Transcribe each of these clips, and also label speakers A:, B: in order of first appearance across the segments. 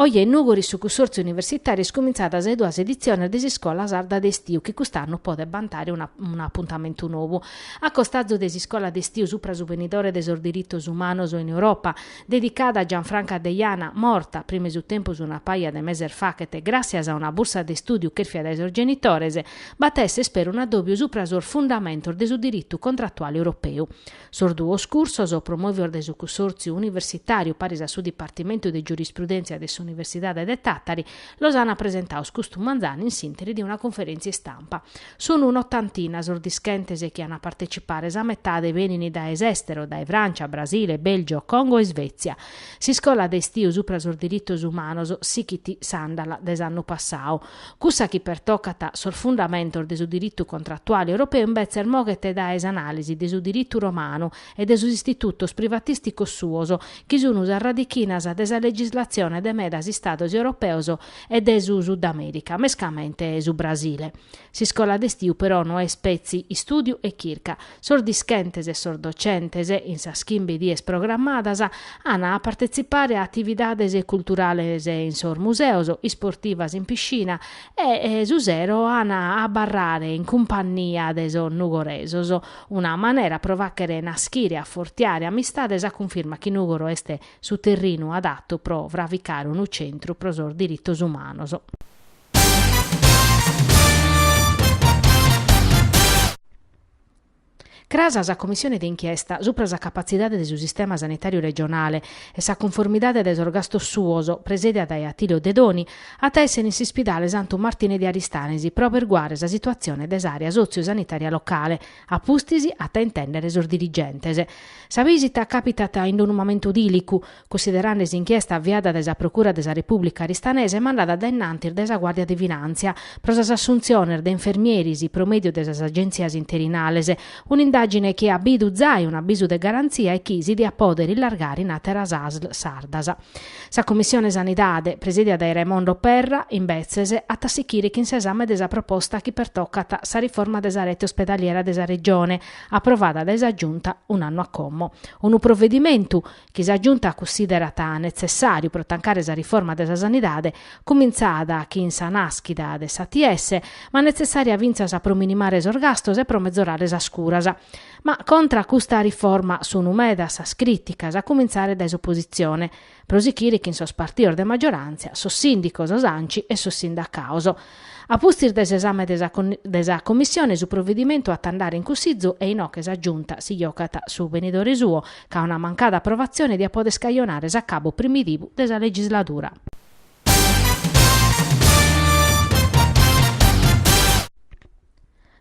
A: Oje in Nùgoro su Cussòrtziu Universitàriu at cumintzadu sas duas editziones de s'iscola sarda de istiu chi cust'annu podet bantare un'apuntamentu nou. A costazu de s'iscola de istiu supra su benidore de sos diritos umanos in Europa, dedicada a Gianfranca Deiana, morta, prima 'e su tempus una paja de meses faghet, gràssias a una bursa de istùdiu chèrfia dae sos genitores, b'at a èssere fintzas un'adòbiu supra sos fundamentos de su diritu contratuale europeu. Sos duos cursos, promòvios dae su Cussòrtziu universitàriu paris a su Dipartimentu de Giurisprudèntzia de s'Universidade de Tàtari, los ant presentados custu manzanu in s'ìnteri de una conferèntzia istampa. Sunt un'otantina sos dischentes chi ant a partetzipare, sa metade benint dae s'èstero, dae Frància, Brasile, Bèlgio, Congo e Isvètzia. S'iscola de istiu supra sos diritos umanos sichit s'àndala de s'annu passadu. Cussa chi pertocat sos fundamentos de su diritu contratuale europeu imbetzes moghet dae s'anàlisi de su diritu romanu e de sos istitutos privatìsticos suos, chi sun sas radichinas de sa legislatzione de medas istados europeos e de su Sudamèrica, mescamente su Brasile. S'iscola de istiu però no est petzi istùdiu e chirca, Sos dischentes e sos docentes, in sas chimbe dies programmadas, an a partetzipare a atividades culturales in sos museos, isportivas in piscina e, su sero, an a abarrare in cumpannia de sos nugoresos. Una manera pro fàghere nàschere e afortiare amistades a cunfirma chi Nùgoro est su terrinu adatu pro fraficare unu centru pro sos diritos umanos. Cras sa Commissione de inchiesta supra sa capatzidade de su sistema sanitàriu regionale e sa cunformidade de sos gastos suos, presìdia dae Attilio Dedoni, at a èssere in s'ispidale Santu Martine de Aristanis pro aberguare sa situatzione de s'àrea sotziu-sanitària locale, a pustis at a intèndere sos dirigentes. Sa bìsita càpitat in unu mamentu dìlicu, Cussiderande s'inchiesta aviada dae sa Procura de sa Repùblica aristanesa e mandada a dainnantis dae sa Guàrdia de Finàntzia pro sas assuntziones de infermieris pro mèdiu de sas agèntzias interinales, un'indàgine chi at bidu zai un'abisu de garantzia e chi si diat pòdere illargare in àteras asl sardas. Sa Commissione Sanidade, presìdia dae Raimondo Perra, imbetzes, at a sichire chin s'esame de sa proposta chi pertocat sa riforma de sa rete ospedaliera de sa Regione, aprovada dae sa Giunta un'annu a como. Unu provedimentu chi sa Giunta cussiderat netzessàriu pro tancare sa riforma de sa sanidade, cumintzada chin sa nàschida de s'ATS, ma netzessària fintzas pro minimare sos gastos e pro mezorare sas curas. Ma contra a custa riforma sunt medas sas crìticas, a cumintzare dae s'opositzione, pro sichire chin sos partidos de maggiorantzia, sos sìndicos, s'Anci e sos sindacados. A pustis de s'esame de sa Commissione su provvidimentu at a andare in Cussizu e inoghe sa Giunta si giogat su benidore suo, ca una mancada aprovatzione diat pòdere cajonare s'acabu primidivu de sa legisladura.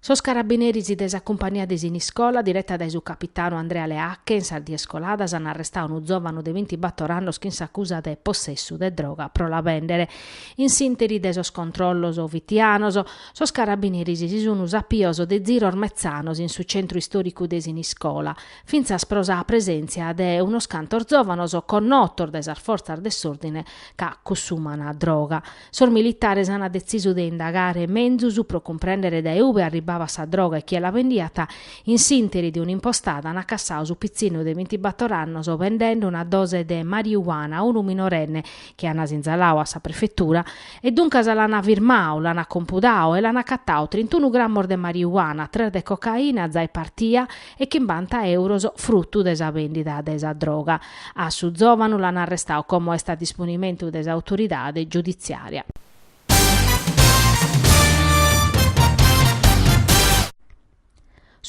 A: Sos carabineris de sa cumpania de Siniscola, direta dae su capitanu Andrea Leacche, in sas dies coladas an arrestadu unu zòvanu de bintibator annos chin s'acusa de possessu de droga pro la bèndere. In s'ìnteri de sos controllos fitianos, sos carabineris si sun sapios de ziros metzanos in su centru istòricu de Siniscola, fintzas pro sa presèntzia de unos cantos zòvanos connotos dae sas fortzas de s'òrdine ca cussumana droga. Sos militares ant detzisu de indagare menzus pro cumprèndere dae ube arribbabat sa droga e chie la bendiat, in s'ìnteri de un'impostada ant cassadu su pitzinnu de bintibator annos bendende una dose de mariuana a unu minorenne chi ant sinzaladu a sa prefetura e duncas l'ant firmadu, l'ant compudadu e l'ant acatadu trintunu grammos de mariuana, tres de cocaina, zai partia, e chimbanta euros frutu de sa bèndida de sa droga. A su zòvanu l'ant arrestadu como est a disponimentu de s'autoridade giuditziària.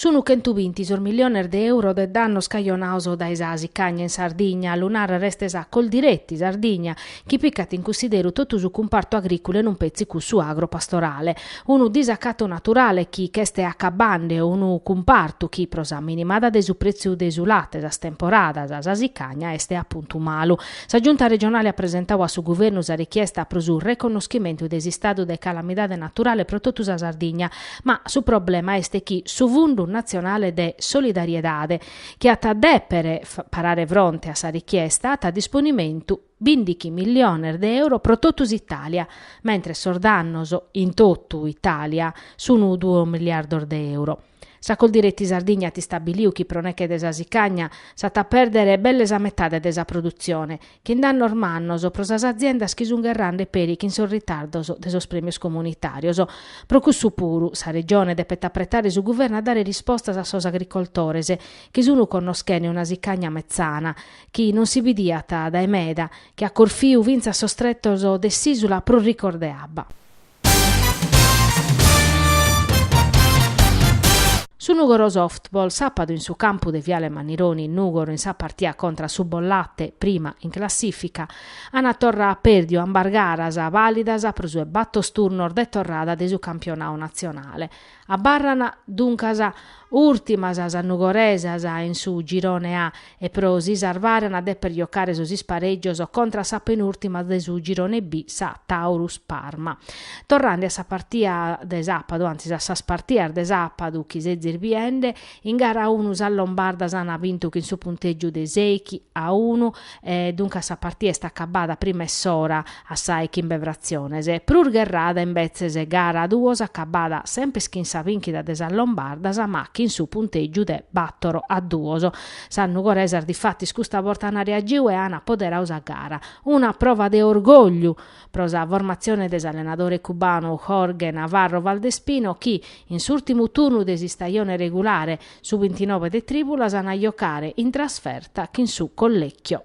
A: Sunt chentu binti sos milliones de euros de dannos cajonados dae sa sicagna in Sardigna, a lu nàrrere est sa Coldiretti Sardigna, chi picat in cussideru totu su cumpartu agrìculu e non petzi cussu agro-pastorale. Unu disacatu naturale chi ch'est acabende unu cumpartu chi, pro sa minimada de su prètziu de su late, sas temporadas, sa sicagna, est apuntu malu. Sa Giunta regionale at presentadu a su Guvernu sa richiesta pro su reconnoschimentu de s'istadu de calamidade naturale pro totu sa Sardigna, ma su problema est chi su Fundu natzionale de solidariedade, chi at a dèpere parare fronte a sa richiesta, at a disponimentu, bìndighi milliones de euro pro totu s'Itàlia, mentres sos dannos in totu Itàlia sun duos milliardos de euro. Sa Coldiretti Sardigna at istabiliu chi pro neche de sa sicagna s'at a pèrdere belle sa metade de sa produtzione, chin dannos mannos pro sas aziendas chi sun gherrende peri chin sos ritardos de sos prèmios comunitàrios. Pro cussu puru, sa Regione depet apretare su Guvernu a dare rispostas a sos agricoltores chi sun connoschende una sicagna metzana chi non si bidiat dae meda, chi at corfiu fintzas sos tretos de s'ìsula prus ricos de abba. Su Nùgoro Softball sàpadu in su campu de Viale Mannironi in Nùgoro in sa partia contra a su Bollate, prima in classìfica, ant torra pèrdiu ambas garas, bàlidas pro su 'e bator turnos de torrada de su campionau natzionale, Abarran duncas ùrtimas sas nugoresas in su Girone A e pro si sarvare an a dèpere jocare sos isparègios contra sa penùrtima de su Girone B, sa Taurus Parma. Torrande a sa partia de sàpadu, antzis a sas partias de sàpadu chi sezis biende, In gara a unu sas lombardas ant bintu chin su puntègiu de sèighi a unu e duncas sa partia est acabada prima 'e s'ora a sa 'e chimbe fratziones. Prus gherrada imbetzes gara a duos acabada sempes chin sa bìnchida de sas lombardas ma chin su puntègiu de bàtoro a duos. Sas nugoresas difatis custa borta ant reagiu e ant apoderadu sa gara. Una prova de orgògliu pro sa formatzione de s'allenadore cubanu Jorge Navarro Valdespino chi, in s'ùrtimu turnu de s'istajone regulare, su bintinove de trìbulas an a jocare in trasferta chin su Collecchio.